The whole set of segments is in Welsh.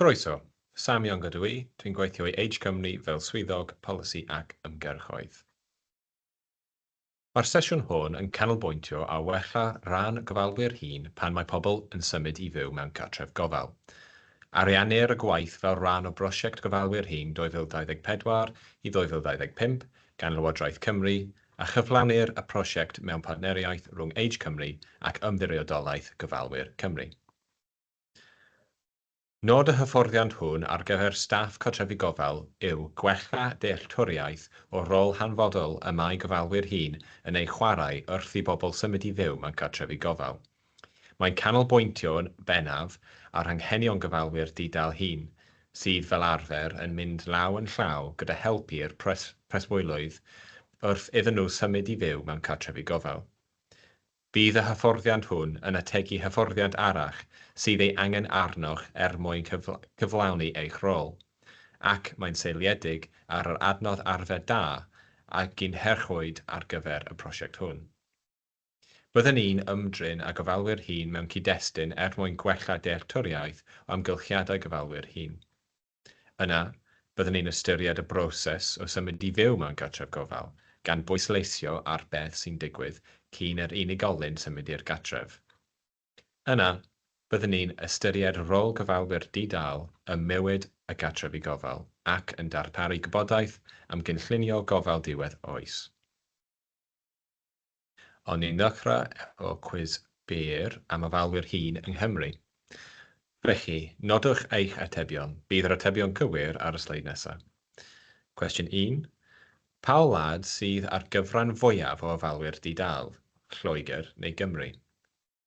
Croeso! Sam Young ydw i, dwi'n gweithio i Age Cymru fel Swyddog Polisi ac Ymgyrchoedd. Mae'r sesiwn hwn yn canolbwyntio ar wella rhan gofalwyr hŷn pan mae pobl yn symud i fyw mewn cartref gofal. Ariennir y gwaith fel rhan o Brosiect Gofalwyr Hŷn 2024 i 2025 gan Lywodraeth Cymru a chyflawnir y prosiect mewn partneriaeth rhwng Age Cymru ac Ymddiriedolaeth Gofalwyr Cymru. Nod y hyfforddiant hwn ar gyfer staff cartrefi gofal yw gwella dealltwriaeth o'r rôl hanfodol y mae gofalwyr hŷn yn ei chwarae wrth i bobl symud i fyw mewn cartrefi gofal. Mae'n canolbwyntio'n bennaf ar anghenion gofalwyr di-dâl hŷn, sydd fel arfer yn mynd law yn llaw gyda help i'r preswylwyr wrth iddyn nhw symud i fyw mewn cartrefi gofal. Bydd y hyfforddiant hwn yn ategu hyfforddiant arall sydd ei angen arnoch er mwyn cyflawni eich rôl, ac mae'n seiliedig ar yr adnodd arfer da a gynhyrchwyd ar gyfer y prosiect hwn. Byddwn ni'n ymdrin â gofalwyr hŷn mewn cyd-destun er mwyn gwella dealltwriaeth o amgylchiadau gofalwyr hŷn. Yna, byddwn ni'n ystyried y broses o symud i fyw mewn cartref gofal, gan bwysleisio ar beth sy'n digwydd cyn i'r unigolyn symud i'r gartref. Yna, byddwn ni'n ystyried rôl gofalwyr di-dâl ym mywyd y cartrefi gofal ac yn darparu gwybodaeth am gynllunio gofal diwedd oes. O'n i'n ddechrau efo cwis byr am ofalwyr hŷn yng Nghymru. Felly, nodwch eich atebion, bydd yr atebion cywir ar y sleid nesaf. Cwestiwn un, Pa wlad sydd â'r gyfran fwyaf o ofalwyr di-dâl, Lloegr neu Gymru?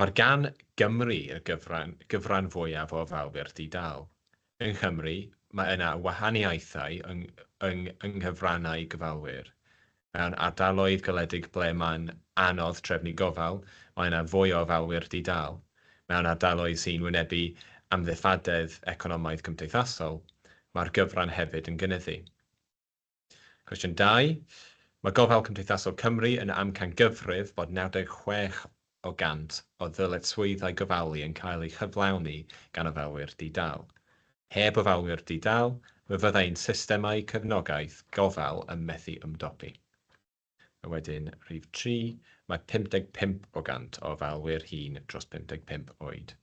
Mae'r gan Gymru i'r gyfran, gyfran fwyaf o fawr di-dâl. Yng Nghymru, mae yna wahaniaethau yng, yng, yng nghyfrannau gofalwyr. Mewn ardaloedd gwledig ble mae'n anodd trefnu gofal, mae yna fwy o ofalwyr di-dâl. Mewn ardaloedd sy'n wynebu amddiffadedd economaidd-cymdeithasol, mae'r gyfran hefyd yn gynyddu. Cwestiwn 2. Mae Gofal Cymdeithasol Cymru yn amcangyfrif bod 96 o 100 o ddyletswyddau gofalu yn cael eu cyflawni gan ofalwyr di-dâl. Heb ofalwyr di-dâl, fe fydda ein systemau cefnogaeth gofal yn methu ymdopi. A wedyn, rhif 3, mae 55 o 100 o ofalwyr hŷn dros 55 oed.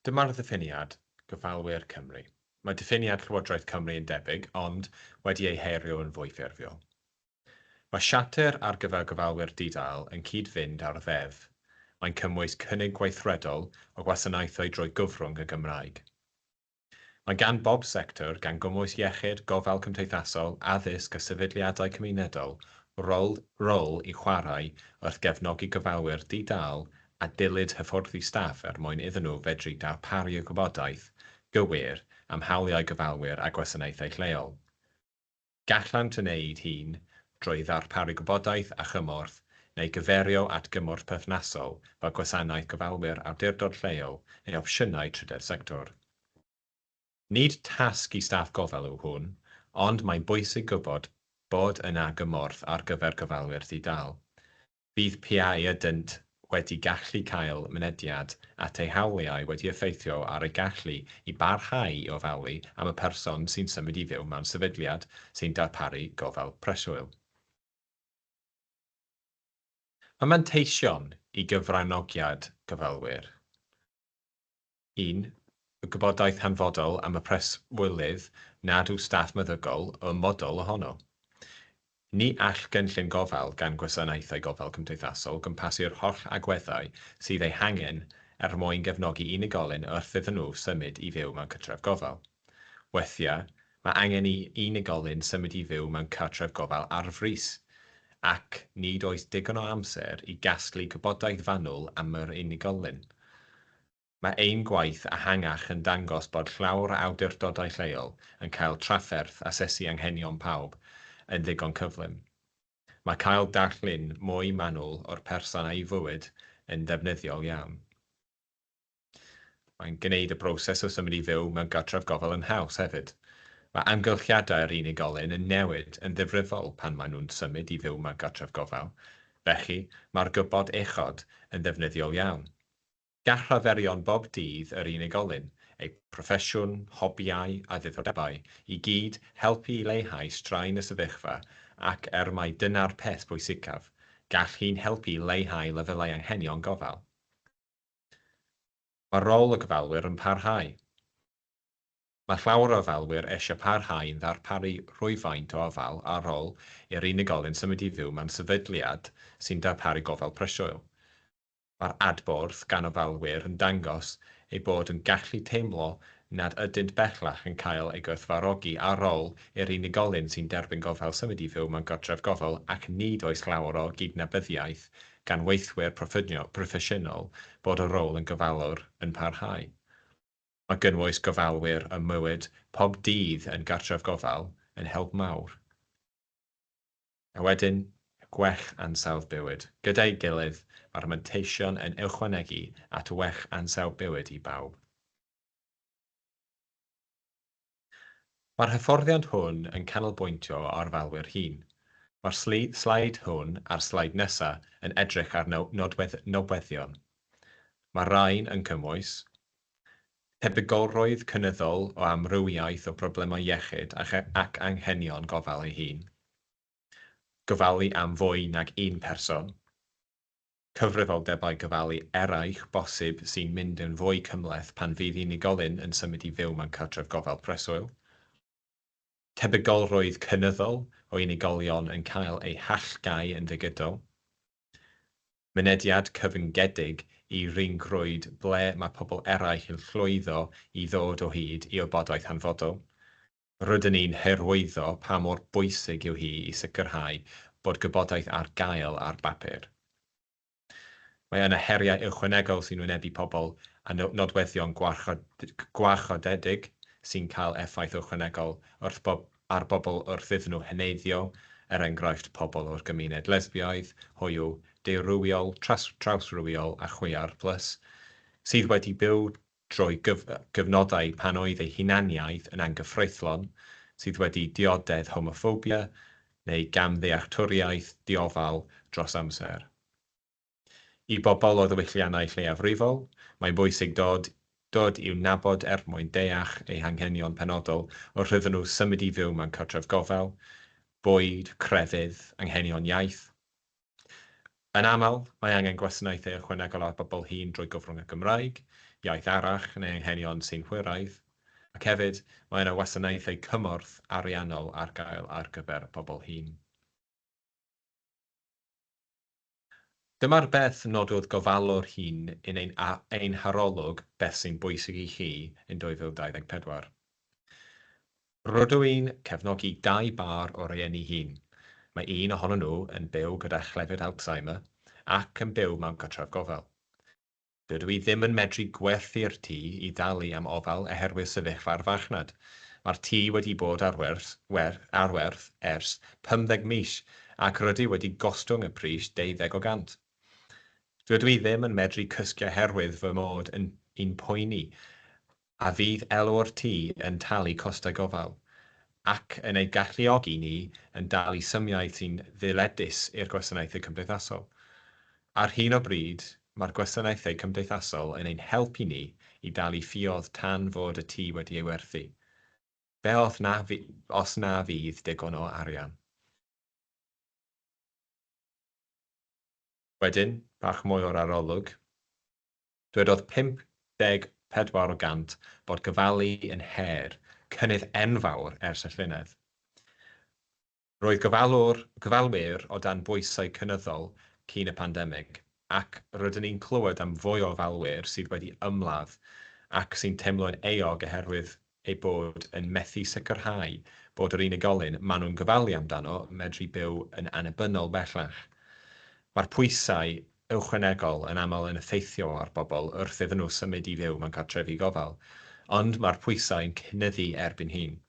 Dyma'r ddiffiniad, Gyfalwyr Cymru. Mae diffiniad Llywodraeth Cymru yn debyg, ond wedi ei herio yn fwy ffurfiol. Mae Siarter ar gyfer Gofalwyr Di-dâl yn cyd-fynd â'r Ddeddf. Mae'n cymwys cynnig gweithredol o wasanaethau drwy gyfrwng y Gymraeg. Mae gan bob sector, gan gymwys iechyd, gofal cymdeithasol, addysg a sefydliadau cymunedol, rôl rôl i chwarae wrth gefnogi gofalwyr di-dâl a dylid hyfforddi staff er mwyn iddyn nhw fedru darparu y gwybodaeth gywir am hawliau gofalwyr a gwasanaethau lleol. Gallant yn eu hun, drwy ddarparu gwybodaeth a chymorth, neu gyfeirio at gymorth perthnasol fel Gwasanaeth Gofalwyr Awdurdod Lleol neu opsiynau trydedd sector. Nid tasg i staff gofal yw hwn, ond mae'n bwysig gwybod bod yna gymorth ar gyfer gofalwyr di-dâl. Bydd p'au ydynt wedi gallu cael mynediad at eu hawliau wedi effeithio ar eu gallu i barhau i ofalu am y person sy'n symud i fyw mewn sefydliad sy'n darparu gofal preswyl. Mae manteision i gyfranogiad gofalwyr. un, y gwybodaeth hanfodol am y preswylydd nad yw staff meddygol yn ymwbodol ohono. Ni all gynllun gofal gan Gwasanaethau Gofal Cymdeithasol gwmpasu'r holl agweddau sydd eu hangen er mwyn gefnogi unigolyn wrth iddyn nhw symud i fyw mewn cytref gofal. Weithiau, mae angen i unigolyn symud i fyw mewn cartref gofal ar frys, ac nid oes digon o amser i gasglu gwybodaeth fanwl am yr unigolyn. Mae ein gwaith ehangach yn dangos bod llawr awdurdodau lleol yn cael trafferth asesu anghenion pawb yn ddigon cyflym. Mae cael darlun mwy manwl o'r person a'i fywyd yn ddefnyddiol iawn. Mae'n gwneud y broses o symud i fyw mewn gartref gofal yn haws hefyd. Mae amgylchiadau'r unigolyn yn newid yn ddifrifol pan maen nhw'n symud i fyw mewn gartref gofal, felly mae'r gwybod uchod yn ddefnyddiol iawn. Gall rhaferion bob dydd yr unigolyn, eu proffesiwn, hobïau a ddiddordebau i gyd helpu i leihau straen y sefyllfa ac, er mai dyna'r peth pwysicaf, gall hyn helpu i leihau lefelau anghenion gofal. Mae rôl y gofalwyr yn parhau. Mae llawer o ofalwyr eisiau parhau yn darparu rhywfaint o ofal ar ôl i'r unigolyn symud i fyw mewn sefydliad sy'n darparu gofal preswyl. Mae'r adborth gan ofalwyr yn dangos eu bod yn gallu teimlo nad ydynt bellach yn cael eu gwerthfawrogi ar ôl i'r unigolyn sy'n derbyn gofal symud i fyw mewn cartref gofal ac nid oes llawer o gydnabyddiaeth gan weithwyr proffesiynol bod y rôl yn gofalwr yn parhau. Mae gynwys gofalwyr ym mywyd pob dydd yn gartref gofal yn help mawr. A wedyn, gwech ansawdd bywyd. Gyda'i gilydd, mae'r manteision yn ychwanegu at wech ansawdd bywyd i bawb. Mae'r hyfforddiant hwn yn canolbwyntio ar ofalwyr hŷn. Mae'r sleid hwn a'r sleid nesaf yn edrych ar nodweddion. Mae'r rhain yn cymwys, tebygolrwydd cynyddol o amrywiaeth o broblemau iechyd ac anghenion gofal ei hun, gofalu am fwy nag un person, cyfrifoldebau gofalu eraill bosib sy'n mynd yn fwy cymhleth pan fydd unigolyn yn symud i fyw mewn cartref gofal preswyl, tebygolrwydd cynyddol o unigolion yn cael eu hallgau yn ddigidol, Mynediad cyfyngedig i ryngrwyd ble mae pobl eraill yn llwyddo i ddod o hyd i wybodaeth hanfodol. Rydyn ni'n hyrwyddo pa mor bwysig yw hi i sicrhau bod gwybodaeth ar gael ar bapur. Mae yna heriau ychwanegol sy'n wynebu pobl â nodweddion gwarchodedig sy'n cael effaith ychwanegol wrth bob ar bobl wrth iddyn nhw heneiddio, er enghraifft pobl o'r gymuned lesbiaidd, hoyw, deurywiol, trawsrywiol a chwiar plus, sydd wedi byw drwy gyfnodau pan oedd eu hunaniaeth yn anghyfreithlon, sydd wedi dioddef homoffobia neu gamddealltwriaeth diofal dros amser. I bobl o ddiwylliannau lleiafrifol, mae'n bwysig dod dod i'w nabod er mwyn deall eu hanghenion penodol wrth iddyn nhw symud i fyw mewn cartref gofal, bwyd, crefydd, anghenion iaith. Yn aml, mae angen gwasanaethau ychwanegol ar bobl hŷn drwy gyfrwng y Gymraeg, iaith arall neu anghenion synhwyraidd, ac hefyd, mae yna wasanaethau cymorth ariannol ar gael ar gyfer pobl hŷn. Dyma'r beth nododd gofalwr hŷn yn ein ein harolwg Beth sy'n Bwysig i Chi? yn 2024. Rydw i'n cefnogi dau bâr o rieni hŷn. Mae un ohonyn nhw yn byw gyda chlefyd Alzheimer ac yn byw mewn cartref gofal. Dydw i ddim yn medru gwerthu'r tŷ i dalu am ofal oherwydd sefyllfa'r farchnad. Mae'r tŷ wedi bod ar werth ar werth ers pymtheg mis ac rydw wedi gostwng y pris deuddeg o gant. Dydw i ddim yn medru cysgu oherwydd fy mod yn yn poeni a fydd elw'r tŷ yn talu costau gofal, ac yn ei galluogi ni yn dalu symiau sy'n ddyledus i'r gwasanaethau cymdeithasol. Ar hyn o bryd, mae'r gwasanaethau cymdeithasol yn ein helpu ni i dalu ffioedd tan fod y tŷ wedi ei werthu. Be os na, os na fydd digon o arian? Wedyn, bach mwy o'r arolwg. Dwedodd 54 o gant bod gofalu yn her cynnydd enfawr ers y llynedd. Roedd gofalwr, gofalwyr o dan bwysau cynyddol cyn y pandemig, ac rydyn ni'n clywed am fwy o ofalwyr sydd wedi ymladd ac sy'n teimlo'n euog oherwydd eu bod yn methu sicrhau bod yr unigolyn maen nhw'n gofalu amdano medru byw yn annibynnol bellach. Mae'r pwysau ychwanegol yn aml yn effeithio ar bobl wrth iddyn nhw symud i fyw mewn cartrefi gofal, ond mae'r pwysau yn cynyddu erbyn hyn.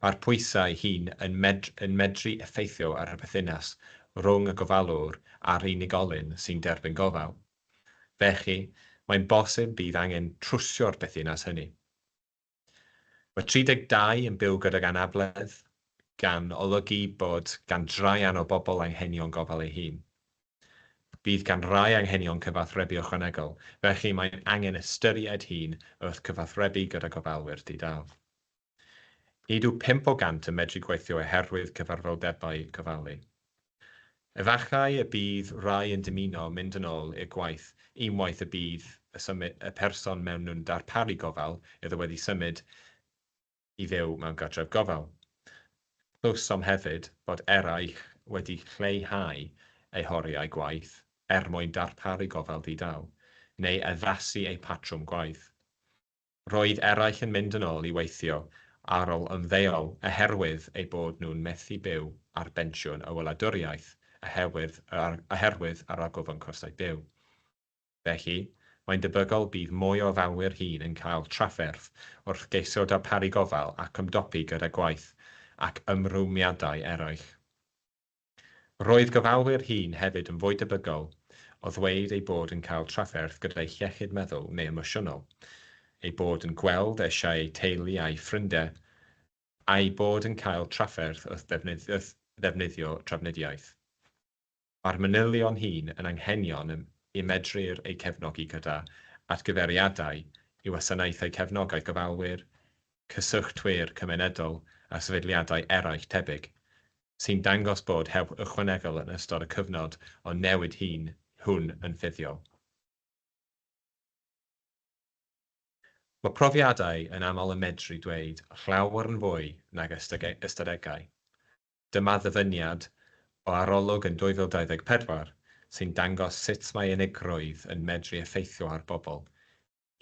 Mae'r pwysau hyn yn yn medru effeithio ar y perthynas rhwng y gofalwr a'r unigolyn sy'n derbyn gofal. Felly, mae'n bosib bydd angen trwsio'r berthynas hynny. Mae 32 yn byw gydag anabledd, gan olygu bod gan draean o bobl anghenion gofal ei hun. Bydd gan rai anghenion cyfathrebu ychwanegol, felly mae'n angen ystyried hyn wrth gyfathrebu gyda gofalwyr di-dâl. Nid yw pump o gant yn medru gweithio oherwydd cyfarfoldebau gofalu. Efallai y bydd rhai yn dymuno mynd yn ôl i'r gwaith unwaith y bydd y person mewn nhw'n darparu gofal iddo wedi symud i fyw mewn cartref gofal. Clywsom hefyd bod eraill wedi lleihau eu horiau gwaith er mwyn darparu gofal di-dâl, neu addasu eu patrwm gwaith. Roedd eraill yn mynd yn ôl i weithio ar ol ymddeol oherwydd eu bod nhw'n methu byw ar bensiwn y wladwriaeth oherwydd yr argyfwng costau byw. Felly, mae'n debygol bydd mwy o ofalwyr hŷn yn cael trafferth wrth geisio darparu gofal ac ymdopi gyda gwaith ac ymrwymiadau eraill. Roedd gofalwyr hŷn hefyd yn fwy debygol o ddweud eu bod yn cael trafferth gyda'u hiechyd meddwl neu emosiynol, eu bod yn gweld eisiau eu teulu a'u ffrindie, a'u bod yn cael trafferth wrth ddefnyddio trafnidiaeth. Mae'r manylion hyn yn anghenion y medrir eu cefnogi gyda atgyfeiriadau i wasanaethau cefnogaeth gofalwyr, cyswllt-wir cymunedol a sefydliadau eraill tebyg, sy'n dangos bod help ychwanegol yn ystod y cyfnod o newid hŷn hwn yn ffurfiol. Mae profiadau yn aml yn medru dweud llawer yn fwy nag ystadegau. Dyma ddyfyniad o arolwg yn 2024 sy'n dangos sut mae unigrwydd yn medru effeithio ar bobl,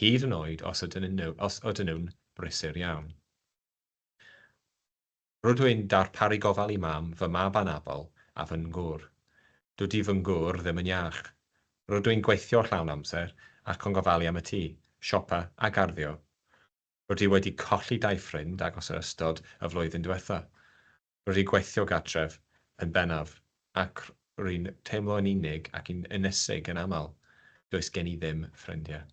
hyd yn oed os ydyn nhw'n brysur iawn. Rydw i'n darparu gofal i mam, fy mab anabl, a fy ngwr. Dydy fy ngwr ddim yn iach. Rydw i'n gweithio llawn amser ac yn gofalu am y tŷ, siopa a garddio. Rydw i wedi colli dau ffrind agos yn ystod y flwyddyn diwetha'. Rydw i'n gweithio gartref yn bennaf ac rwy'n teimlo yn unig ac yn ynysig yn aml. Does gen i ddim ffrindiau.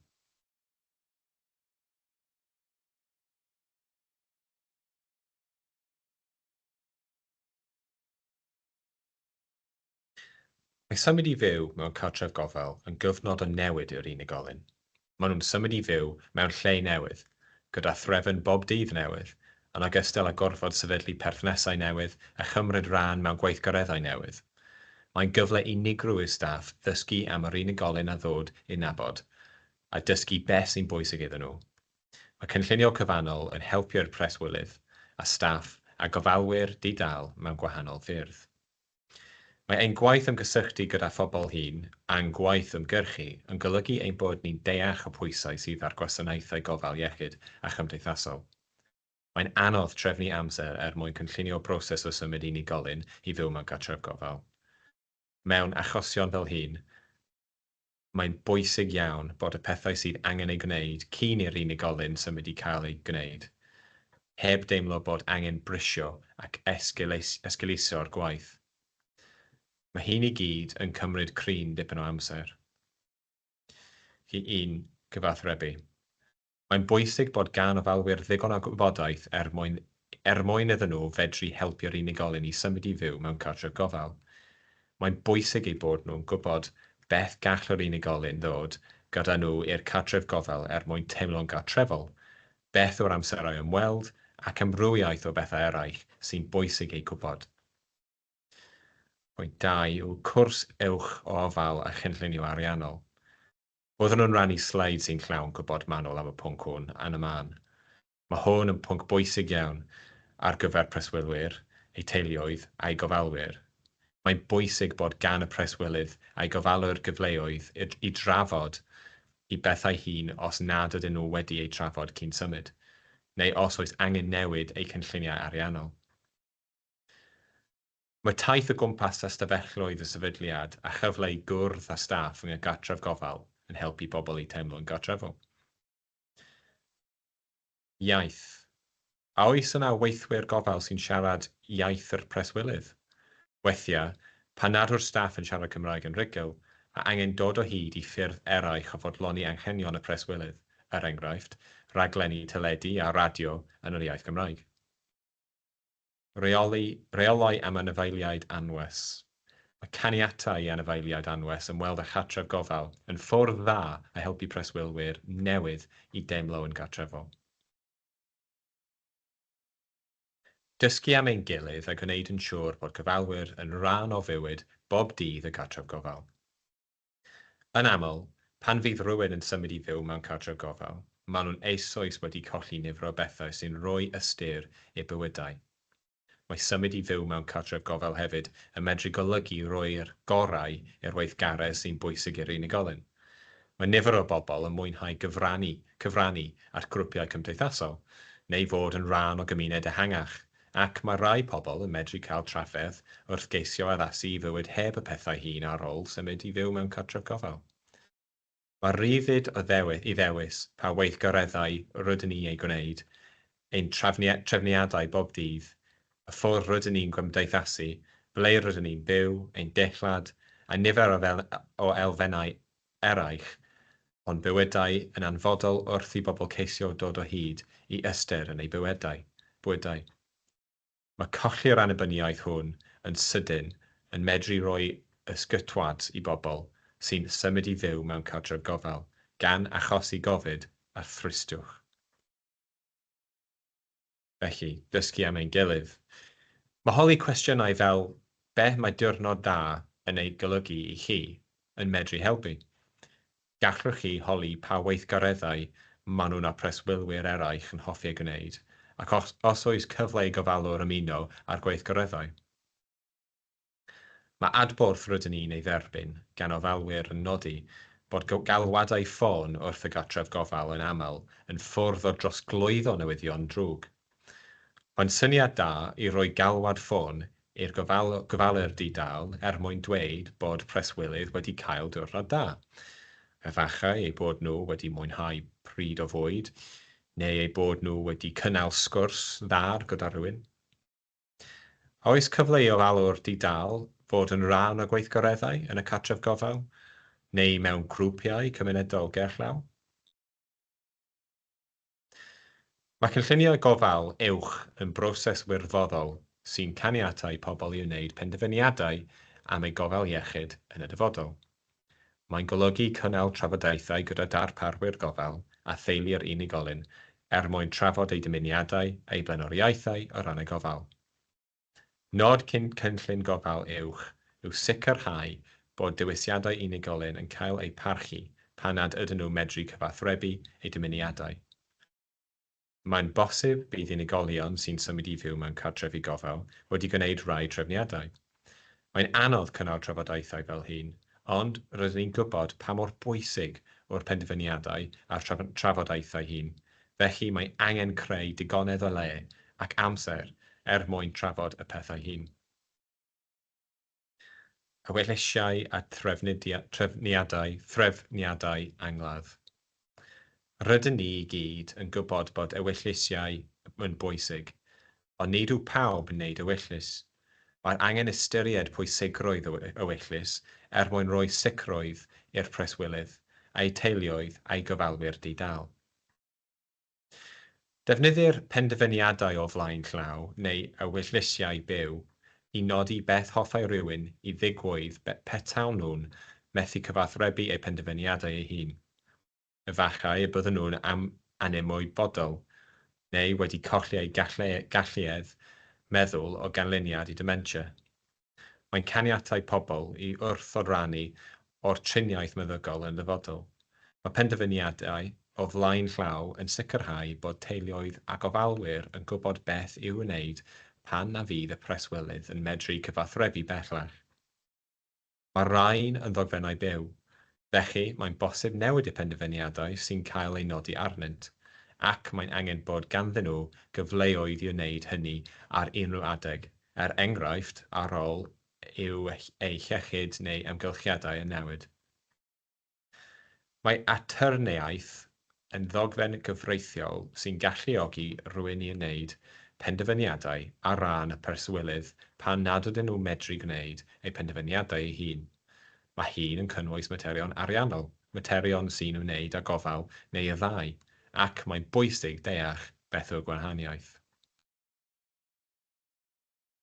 Mae symud i fyw mewn cartref gofal yn gyfnod o newid i'r unigolyn. Maen nhw'n symud i fyw mewn lle newydd, gyda threfn bob dydd newydd, yn ogystal â gorfod sefydlu perthnasau newydd a chymryd rhan mewn gweithgareddau newydd. Mae'n gyfle unigryw i'r staff ddysgu am yr unigolyn a ddod i'w nabod, a dysgu beth sy'n bwysig iddyn nhw. Mae cynllunio cyfannol yn helpu i'r preswylydd a staff a gofalwyr di-dâl mewn gwahanol ffyrdd. Mae ein gwaith ymgysylltu gyda phobl hŷn a'n gwaith ymgyrchu yn golygu ein bod ni'n deall y pwysau sydd ar gwasanaethau gofal iechyd a chymdeithasol. Mae'n anodd trefnu amser er mwyn cynllunio broses o symud unigolyn i fyw mewn cartref gofal. Mewn achosion fel hyn, mae'n bwysig iawn bod y pethau sydd angen eu gwneud cyn i'r unigolyn symud i cael eu gwneud, heb deimlo bod angen brisio ac esgeuluso'r gwaith. Mae hyn i gyd yn cymryd cryn dipyn o amser i un cyfathrebu. Mae'n bwysig bod gan ofalwyr ddigon o wybodaeth er mwyn er mwyn iddyn nhw fedru helpu'r unigolyn i symud i fyw mewn cartref gofal. Mae'n bwysig eu bod nhw'n gwybod beth gall yr unigolyn ddod gyda nhw i'r cartref gofal er mwyn teimlo'n gartrefol, beth yw'r amserau ymweld, ac amrywiaeth o bethau eraill sy'n bwysig eu gwybod. Pwynt dau yw cwrs uwch o ofal a chynllunio ariannol. Oeddwn yn rhannu sleid sy'n llawn gwybod manwl am y pwnc hwn yn y man. Mae hwn yn pwnc bwysig iawn ar gyfer preswylwyr, eu teuluoedd a'u gofalwyr. Mae'n bwysig bod gan y preswylydd a'i gofalwr gyfleoedd i drafod y bethau hyn os nad ydyn nhw wedi eu trafod cyn symud, neu os oes angen newid eu cynlluniau ariannol. Mae taith o gwmpas ystafelloedd y sefydliad a chyfle i gwrdd â staff yng Nghygartref Gofal yn helpu pobl i teimlo'n gartrefol. Iaith. A oes yna weithwyr gofal sy'n siarad iaith yr preswylydd? Weithiau, pan nad yw'r staff yn siarad Cymraeg yn rhugl, mae angen dod o hyd i ffyrdd eraill o fodloni anghenion y preswylydd, er enghraifft, raglenni teledu a radio yn yr iaith Gymraeg. Rheoli, Rheolau am Anifeiliaid Anwes Mae caniatau i anifeiliaid anwes ymweld â chartref gofal yn ffordd dda o helpu preswylwyr newydd i deimlo yn gartrefol. Dysgu am ein gilydd a gwneud yn siŵr bod gofalwyr yn rhan o fywyd bob dydd y cartref gofal. Yn aml, pan fydd rhywun yn symud i fyw mewn cartref gofal, maen nhw'n eisoes wedi colli nifer o bethau sy'n rhoi ystyr i'w bywydau. Mae symud i fyw mewn cartref gofal hefyd yn medru golygu rhoi'r gorau i'r weithgaredd sy'n bwysig i'r unigolyn. Mae nifer o bobl yn mwynhau gyfrannu, cyfrannu at grwpiau cymdeithasol, neu fod yn rhan o gymuned ehangach, Ac mae rhai pobl yn medru cael trafferth wrth geisio addasu i fywyd heb y pethau hyn ar ôl symud i fyw mewn cartref gofal. Mae rhyddid i ddewis pa weithgareddau rydyn ni eu gwneud, ein trefniadau bob dydd, y ffordd rydyn ni'n gymdeithasu, ble rydyn ni'n byw, ein dillad, a nifer o elfennau eraill, ond bywydau yn anfodol wrth i bobl ceisio dod o hyd i ystyr yn eu bywydau. Bywydau. Mae colli'r annibyniaeth hwn yn sydyn yn medru rhoi ysgytwad i bobl sy'n symud i fyw mewn cartref gofal, gan achosi gofid a thristiwch. felly, dysgu am ein gilydd. Mae holi cwestiynau fel 'Be mae diwrnod dda yn ei golygu i chi? yn medru helpu. Gallwch chi holi pa weithgareddau maen nhw na preswylwyr eraill yn hoffi eu gwneud, ac os oes cyfle i gofalwr ymuno â'r gweithgareddau. Mae adborth rydyn ni'n ei dderbyn gan ofalwyr yn nodi bod galwadau ffôn wrth y gartref gofal yn aml yn ffurf o drosglwyddo newyddion drwg. Mae'n syniad da i roi galwad ffôn i'r gofalwr di-dâl er mwyn dweud bod preswylydd wedi cael diwrnod da, efallai eu bod nhw wedi mwynhau pryd o fwyd, neu eu bod nhw wedi cynnal sgwrs dda gyda rhywun. A oes cyfle i ofalwr di-dâl fod yn rhan o gweithgareddau yn y cartref gofal neu mewn grwpiau cymunedol gerllaw? Mae cynlluniau gofal uwch yn broses wirfoddol sy'n caniatáu pobl i wneud penderfyniadau am eu gofal iechyd yn y dyfodol. Mae'n golygu cynnal trafodaethau gyda darparwyr gofal a theulu'r unigolyn er mwyn trafod eu dymuniadau a'u blaenoriaethau o ran y gofal. Nod cyn cynllun gofal uwch yw sicrhau bod dewisiadau unigolyn yn cael eu parchu pan nad ydyn nhw'n medru cyfathrebu eu dymuniadau. Mae'n bosib bydd unigolion sy'n symud i fyw mewn cartrefi gofal wedi gwneud rhai trefniadau. Mae'n anodd cynnal trafodaethau fel hyn, ond rydyn ni'n gwybod pa mor bwysig yw'r penderfyniadau a'r trafodaethau hyn, felly mae angen creu digonedd o le ac amser er mwyn trafod y pethau hyn. a wellysiau a threfniadau, threfniadau angladd. Rydyn ni i gyd yn gwybod bod ewyllisiau yn bwysig, ond nid yw pawb yn wneud ewyllys. Mae angen ystyried pwysigrwydd y ewyllys er mwyn rhoi sicrwydd i'r preswylydd, eu teuluoedd a'u gofalwyr di-dâl. Defnyddir penderfyniadau o flaen llaw neu ewyllisiau byw i nodi beth hoffai rywun i ddigwydd petawn nhw'n methu cyfathrebu eu penderfyniadau eu hun. Efallai y byddwn nhw'n anymwybodol neu wedi colli eu galluedd meddwl o ganlyniad i ddementia. Mae'n caniatáu pobl i wrthodrannu o'r triniaeth meddygol yn ddyfodol. Mae penderfyniadau o flaen llaw yn sicrhau bod teuluoedd a gofalwyr yn gwybod beth i'w wneud pan na fydd y preswylydd yn medru cyfathrebu bellach. Mae'r rhain yn ddogfennau byw, Felly, mae'n bosib newid y penderfyniadau sy'n cael eu nodi arnynt, ac mae'n angen bod ganddyn nhw gyfleoedd i wneud hynny ar unrhyw adeg, er enghraifft, ar ôl i'w eu hiechyd neu amgylchiadau yn newid. Mae atwrneiaeth yn ddogfen gyfreithiol sy'n galluogi rhywun i wneud penderfyniadau ar ran y preswylydd pan nad ydyn nhw'n medru gwneud eu penderfyniadau eu hun. Mae hyn yn cynnwys materion ariannol, materion sy'n ymwneud â gofal neu y ddau, ac mae'n bwysig deall beth yw'r gwahaniaeth.